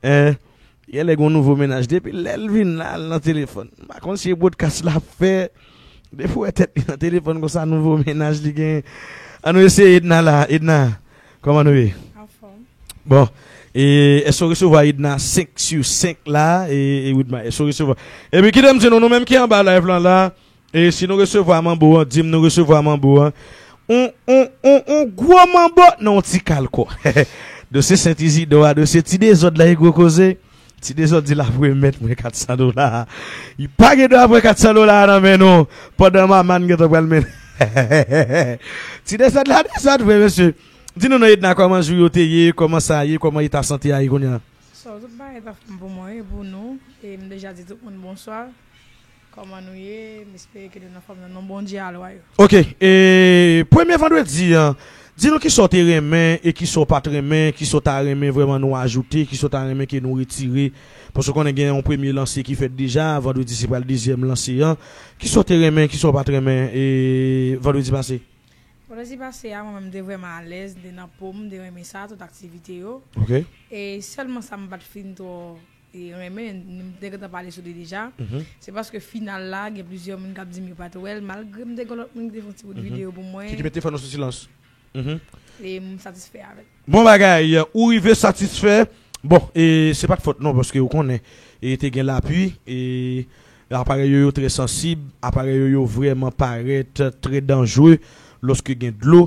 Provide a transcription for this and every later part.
Hein Genlè gon nouvo mennaj depi lèl vin la al nan telefòn m pa konn si e brodkas lap fè depi wè tèt li nan telefòn konsa nouvo mennaj li gen an nou eseye Edna la Edna kòman nou ye Anfòm bon e èske ou resevwa Edna 5 sur 5 la e Widma èske ou resevwa epi kite m di nou nou menm ki anba live lan la E si nou resevwa manbo an dim nou resevwa manbo an on on on on gwo manbo nan on ti kal kò dosye sent izidò a dosye ti dezòd la e gwo koze ti dezòd di lap remèt mwen 400 dola li pa gen dwa pran 400 dola a nan men nou pandan mamàn gentan pral mennen ti dezòd la dezòd vre mesye di nou non edna kòman jou yo te ye kòman sa ye kòman eta sante a ye kounye a. Bonswa tout bagay ta fèm pou mwen e pou nou e m deja di tout moun bonswa Koman nou ye m espere ke nou nan fòm nan non Bondye a lwa yo. Ok e premye vandredi an di nou kisa w te renmen e kisa w pat renmen kisa w ta renmen vrèman nou ajoute kisa w ta renmen ke nou retire paske w konnen gen yon premye lanse ki fèt deja vandredi se pral dezyèm lanse an kisa w te renmen kisa w pat renmen e vandredi pase. Vandredi pase a mwen menm m te vrèman alèz m te nan po m m te renmen sa tout aktivite yo e sèlman sa m pat fin twò renmen, m te gentan pale sou li deja, se paske final la gen plizyè moun kap dim yo pat wè l malgre m te gen lòt moun ki te fè yon ti bout videyo pou mwen. Ki te mete fè nou sou silans. E m satisfè avè l. Bon bagay, ou rive satisfè. Bon, e se pat fòt non paske ou konnen e te gen lapui e aparèy yo yo trè sansib, aparèy yo yo vrèman parèt trè danjre lòske gen dlo,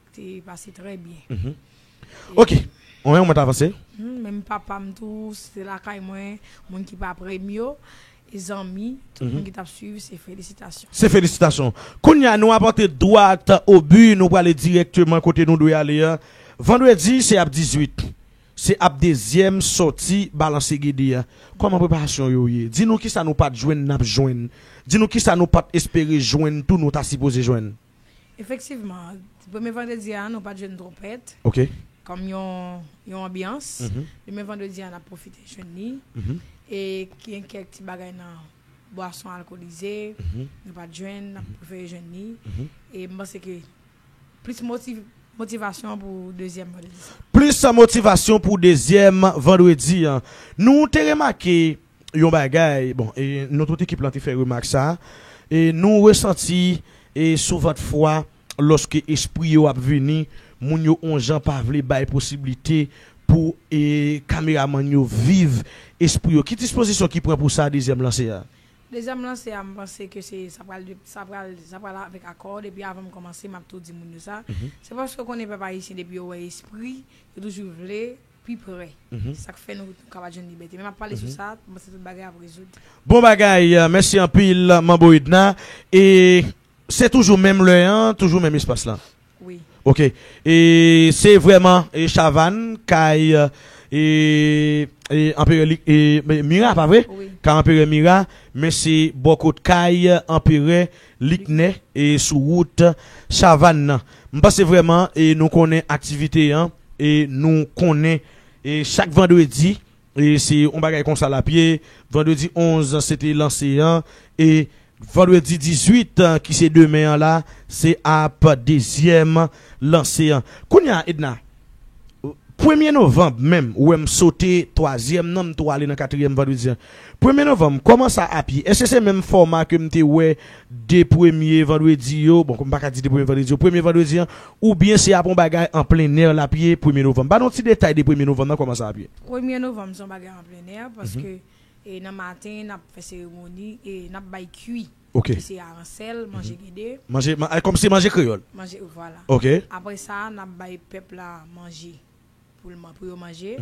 Te pase trè byen. Ok. Mwen menm mwen ta panse. Menm papa m tou, se te lakay mwen, moun ki pa pre m yo, e zanmi, tout moun ki t ap suiv, se felisitasyon. Se felisitasyon. Kounye a, nou ap antre dwat o bi, nou prale dirèkteman kote nou dwe ale a. Vandredi, se ap 18. Se ap dezyèm sòti Balanse Gede a. Kòman preparasyon yo ye? Di nou kisa nou pa t jwenn n ap jwenn. Di nou kisa nou pa t espere jwenn tou nou ta sipoze jwenn. Efektivman, premye vandredi a nou pa t jwenn twonpèt. Ok. Kòm yon yon anbyans. Demen vandredi a n ap pwofite jwenn li. E gen kèk ti bagay nan bwason alkolize nou pa t jwenn, n ap prefere jwenn li. E m panse ke plis motiv, motivasyon pou dezyèm vandredi sa. Plis motivasyon pou dezyèm vandredi an. Nou te remake. yon bagay, bon, e nou tout ekip lan te fè remak sa, e nou resanti e sou vant fwa lòske espri yo ap vini, moun yo on jan pa vle bay posiblite pou e kameramann yo viv espri yo. Ki dispozisyon ki pran pou sa dezyèm lanse a? Dezyèm lanse a m panse ke se sa pral de sa pral sa pral avèk akò depi avan m kòmanse m ap tou di moun yo sa se paske w konnen pèp ayisyen depi yo wè espri yo toujou vle pi prè. Sa k fè nou ka pa t jwenn libète. Men m ap pale sou sa, m panse tout bagay ap rezoud. Bon bagay, mèsi anpil Manbo Edna. E se toujou menm lè an, toujou menm espas lan? Wi. Ok. E se vrèman Chavann, kay Anperè Mira, pa vre? Wi. Kay Anperè Mira, men se bò kot kay Anperè Liknè e sou wout Chavann nan. M panse vrèman e nou konnen aktivite an e nou konnen e chak vandredi e se on bagay konsa l ap ye. Vandredi 11 se te lanse an e vandredi 18 ki se demen an la se ap dezyèm lanse an. Kounya Edna, Premye novanb menm ou wè m sote twazyèm nan m tou ale nan katryèm vandredi an. Premye novanm kòman sa ap ye? Èske se menm fòma ke m te wè 2 premye vandredi yo, bon m pa ka di 2 premye vandredi yo, premye vandredi an, oubyen se ap yon bagay an plennè l ap ye premye novanm? Ba nou ti detay de premye novanm nan kòman sa ap ye? Premye novanm se yon bagay an plennè paske nan maten n ap fè seremoni e n ap bay kwi. Ok. Ki se aransèl, manje gede. Manje, kòm se manje kreyòl. Manje, vwala. Ok. Apre sa, n ap bay pèp la manje pou l man, pou yo manje.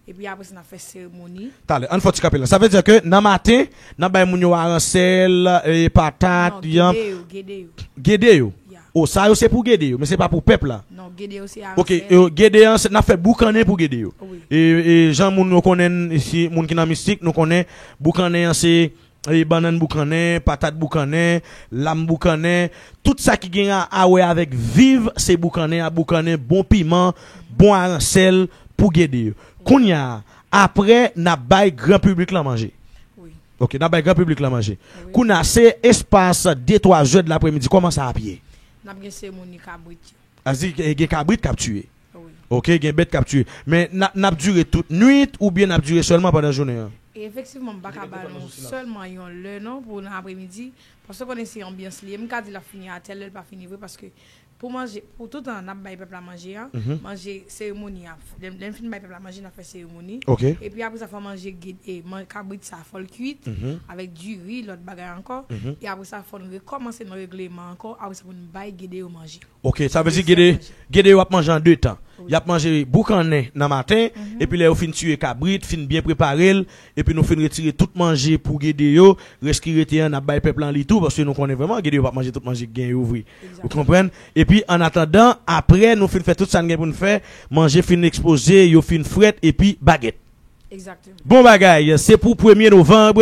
Epi apre sa n ap fè seremoni. Talè, an n fè yon ti kanpe la. Sa vle di ke nan maten, n ap bay moun yo aransèl, patat, yanm. Non, gede yo, gede yo. Gede yo? Ya. O, sa yo se pou gede yo, men se pa pou pèp la. Non, gede yo se aransèl. Ok, gede an, n ap fè boukannen pou gede yo. Wi. E jan moun yo konnen n isi, moun ki nan mistik, nou konnen boukannen an se bannann boukannen, patat boukannen, lam boukannen, tout sa ki gen ra a wè avèk viv se boukannen ya boukannen bon piman, bon aransèl pou gede yo. Kounya a, aprè n ap bay gran piblik lan manje. Wi. Ok, n ap bay gran piblik lan manje. Wi. Kounya a, se espas de twa zè de lapremidi, kòman sa ap ye? N ap gen seremoni kabrit yo. A di gen kabrit k ap tiye? Ok gen bèt kap tiye. Men nap dure tout nwit oubyen nap dure sèlman pandan jounen an? Efektivman m paka ba nou sèlman yon lè non pou nan apremidi paske konnen se anbyans li ye m ka di lap fini a tèl lè li pa fini vre paske pou manje pou toutan nap bay pèp la manje a manje seremoni a lè n fin bay pèp la manje nap fè seremoni epi apresa fò manje kabrit sa fòl kuit avèk diri lòt bagay ankò e apresa fòn rekòmanse nan regleman ankò apresa pou n bay gede yo manje. Ok sa vle di gede gede yo ap manje an 2 tan yap manje boukannen nan maten epi lè yo fin tiye kabrit fin byen preparel epi nou fin retire tout manje pou gede yo rès ki rete an nap bay pèp lan li tou paske nou konnen vrèman gede yo pap manje tout manje ki gen yo vre ou konprann epi an atandan aprè nou fin fè tout sa n gen pou n fè manje fin ekspoze yo fin frèt epi bagèt. Bon bagay, se pou premye novanb,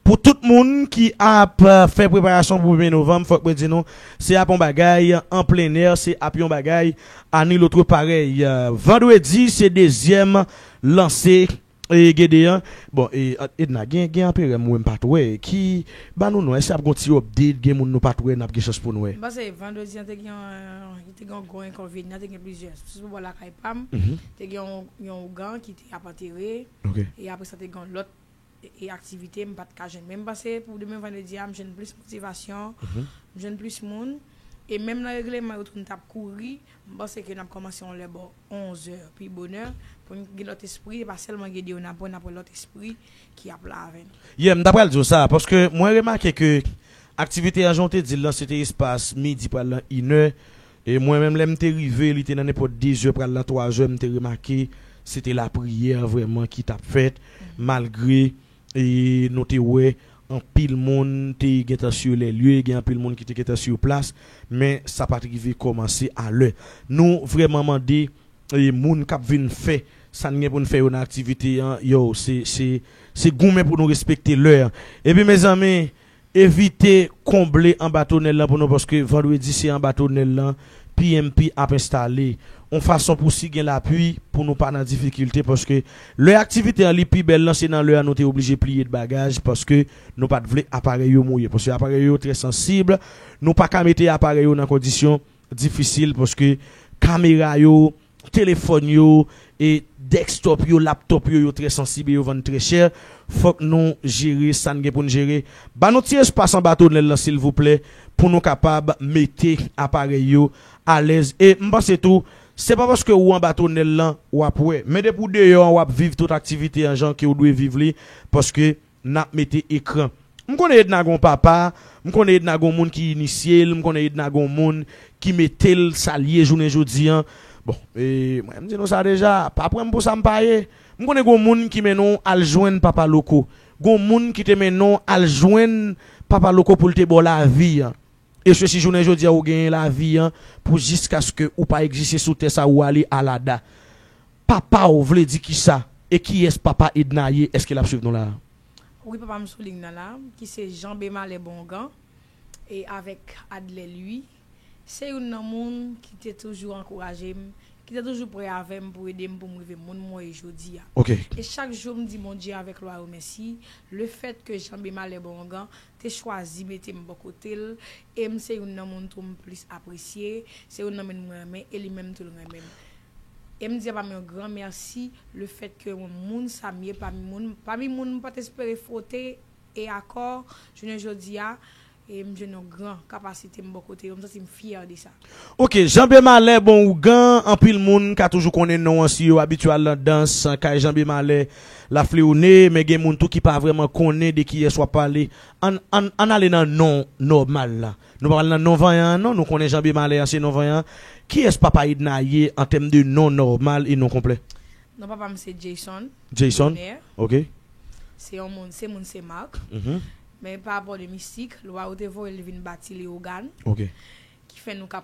pou tout moun ki ap fè preparasyon pou premye novanb fòk mwen di nou se ap yon bagay an plennè, se ap yon bagay a ni lotre parèy. Vandredi se dezyèm lanse Gede an. Bon e Edna gen Anperè m wè m pat wè ki ba nou non, èske ap gen yon ti update, gen moun nou pat wè n ap gen chans pou n wè? M panse vandredi an te gen yon. Te gen yon gwo enkonvenyan, te gen plizyè. Sou bò lakay pa m, te gen yon ougan ki te ap antere. E apre sa, te gen yon lòt aktivite m pa t ka jwenn. Men m panse pou demen vandredi a, m jwenn plis motivasyon, m jwenn plis moun. E menm nan regleman yo tou nou t ap kouri. M panse ke n ap kòmanse yon lè bò onzè pi bonè pou n gen lòt espri. E pa sèlman Gedeona pwen, n ap wè lòt espri ki ap la avè n. Yeah, m ta pral di w sa, paske mwen remake ke aktivite an jan w te di l lan se te espas midi pral lan inè, e mwen menm lè m te rive li te nan nenpòt dezè pral lan twazè m te remake se te lapriyè vrèman ki t ap fèt malgre nou te wè anpil moun te gentan sur les lieux, gen anpil moun ki te gentan sur place men sa pa t rive kòmanse a lè nou vrèman mande. E moun k ap vin fè sa n gen pou n fè yo nan aktivite an yo, se goumen pou nou respekte lè an. Epi mezanmi, evite konble anba tonèl lan pou nou paske vandredi se anba tonèl lan pmp ap enstale on fason pou si gen lapui pou nou pa nan difikilte paske lè aktivite an li pi bèl lan se nan lè an nou te oblije pliye t bagaj paske nou pa t vle aparèy yo mouye paske aparèy yo trè sansib nou pa ka mete aparèy yo nan kondisyon difisil paske kamera yo, telefòn yo, e dèkstòp yo, laptòp yo, yo trè sansib e yo vann trè chè, fòk nou jere sa n gen pou n jere. Ba nou ti espas anba tonèl lan silvouplè pou nou kapab mete aparèy yo alèz e m panse tou se pa paske ou anba tonèl lan w ap wè men depi w deyò an w ap viv tout aktivite an jan ke w dwe viv li paske Nap mete ekran. M konnen Edna gon papa, m konnen Edna gon moun ki inisye l, m konnen Edna gon moun ki mete l sa l ye jounen jodi an. Bon, mwen m di nou sa deja, pa pran m pou sa m pa ye. M konnen gon moun ki mennen w al jwenn Papa Loko. Gon moun ki te mennen w al jwenn Papa Loko pou l te ba w lavi an. E se si jounen jodi a ou genyen lavi an pou jiskaske ou pa egziste sou tè sa ou ale Alada. Papa w vle di kisa? E kiyès papa Edna ye? Eske l ap swiv nou la a? Wi papa m sou liy nan la a, ki se Jean Bemalè Bongan e avèk Adlè Lwi. Se youn nan moun ki te toujou ankouraje m, ki te toujou prè avè m pou ede m pou m rive moun mwen ye jodi a. Ok. E chak jou m di Bondye avèk lwa yo mèsi lefètke Jean Bemalè Bongan te chwazi mete m bò kote l e m se youn nan moun tou m plis apresye, se youn nan mun mwen renmen e li menm tou l renmen m. E m di apa m yon gran mèsi le fèt ke yon moun sa m ye pami moun pami moun m pa t espere fwote e akò jounen jodi a e m jwenn yon gran kapasite m bò kote yo m santi m fyè de sa. Ok janbe malè bon ougan anpil moun ka toujou konnen non an si yo abitye al nan dans kay janbe malè lafleone men gen moun tou ki pa vrèman konnen de kiyès wap pale ann ann ann ale nan non nòmal la nou pa pral nan non vanyan an non nou konnen janbe malè an se non vanyan kiyès papa edna ye an tèm de non nòmal e non konplè. Non papa m se Jayson Jayson Dener ok. se yon moun se moun Sen Marc men pa rapò de mistik lwa yo te voye l vin bati Leogane ok. Ki fè nou ka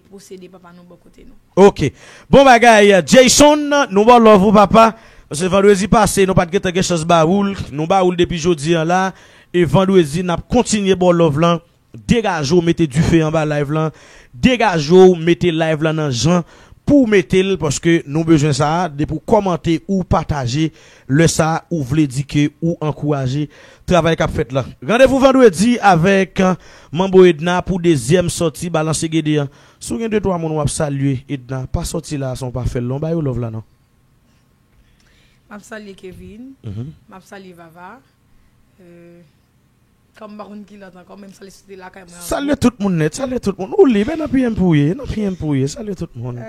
posede papa nou bò kote nou. Ok bon bagay Jayson nou baw love ou papa paske vandredi pase nou pat gentan gen chans ba oul nou ba oul depi jodi an la e vandredi nap kontinye baw love lan degaje w mete dife anba live lan degaje w mete live lan nan jan pouw metel paske nou bezwen sa depi w kòmante ou pataje Lè sa a ou vle di ke ou ankouraje travay kap fèt la. Randevou vandredi avèk Manbo Edna pou dezyèm sòti Balanse Gede an. Si w gen de twa moun wap salye Edna pa sòti la a san w pa fè l non ba yo love la non. Map salye Kevin, map salye Vava. Kan m pa konn ki lòt ankò menm sa li soti lakay mwen ankò. Salye tout moun nèt, salye tout moun. Ou lib, e nan piye m pou w ye, e nan piye m pou w ye. Salye tout moun.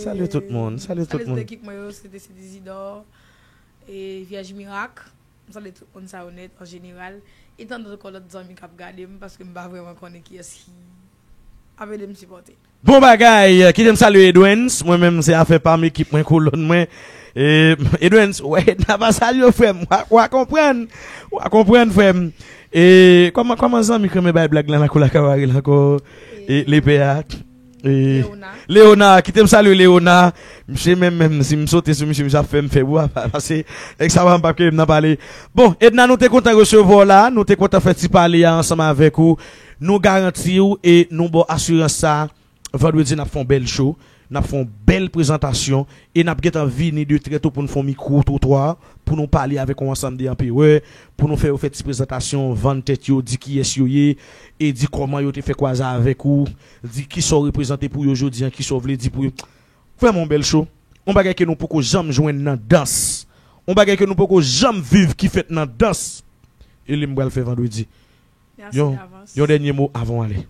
Salye tout moun, salye tout moun. Salye tout ekip mwen yo, Sete Sete Izidò, e Vyèj Mirak. M salye tout moun sa yo nèt an jeneral. E tandòt ankò lòt zanmi k ap gade m paske m pa vrèman konnen kiyès ki ap ede m sipòte. Bon bagay, kitem salye Edwens, mwen menm se afè pam ekip mwen kolòn mwen, Edwens wè Edna pa salyew frèm, wa konprann, wa konprann frèm, kòman zanmi krenmen bay blag lan nan koulak la rele ankò lepè a, Leona, kitem salye Leona, misye menm menm sim sote sou misye misye ap fèm fèb wi pase nèg sa pap kite m nan pale, bon Edna nou te kontan resevwaw la, nou te kontan fè ti pale a ansanm avèk ou. Nou garanti w e nou ba w asirans sa a, Vandredi n ap fè yon bèl show, n ap fè yon bèl prezantasyon e n ap gentan vini de trè to pou nou fè yon mikwo twotwa, pou nou pale avèk yon ansanm de anperè, pou nou fè yo fè ti prezantasyon, vann tèt yo, di kiyès yo ye e di kòman yo te fè kwaza avèk ou, di kisa w reprezante pou yo jodi an, kisa w vle di pou yo. Vrèman yon bèl show, yon bagay ke nou poko janm jwenn nan dans, yon bagay ke nou poko janm viv ki fèt nan dans e li m pral fè Vandredi. Yon, yon dènye mo avan w ale?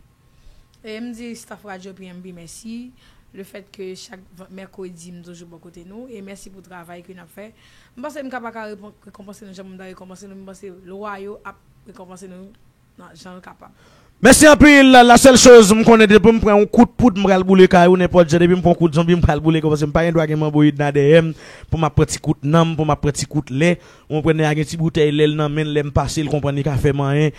E m di staff radyo PMB mèsi, le fèt ke chak mèkredi m toujou bò kote nou, e mèsi pou travay ke n ap fè. M panse m ka pa ka rekonpanse nou jan moun ta rekonpanse nou, men m panse lwa yo ap rekonpanse nou nan jan yo kapab. Mèsi anpil, la sèl choz m konnen depi m pran yon kout poud m pral boule kay ou, nenpòt jan depi m pran yon kout zonbi m pral boule kay ou, paske m pa gen dwa gen manboyid nan dèyè m pou m ap pran ti kout nanm, pou m ap pran ti kout lè. Ou konprann nèg la gen ti boutèy lèl nan menl lèm pasel konprann li ka fè manyen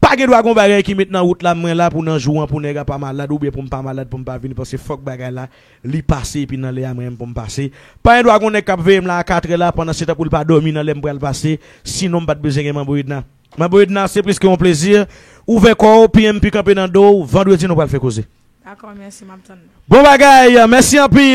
pa gen dwa gon bagay ki met nan wout la mwen la pou nan jou an pou nèg a pa malad oubyen poum pa malad poum pa vini pase fòk bagay la li pase epi nan lè a mwen menm poum pase pa gen dwa gon nèg kap veyem la a 4 è la pandan setan poul pa dòmi nan lèm pral pase sinon mpat bezwen gen manbo edna manbo edna se plis ke yon plezi ouvè kòw piyem pu kanpe nan dow vandredi nou pral fè koze Dakò mèsi map tann nou. Bon bagay, mèsi anpil.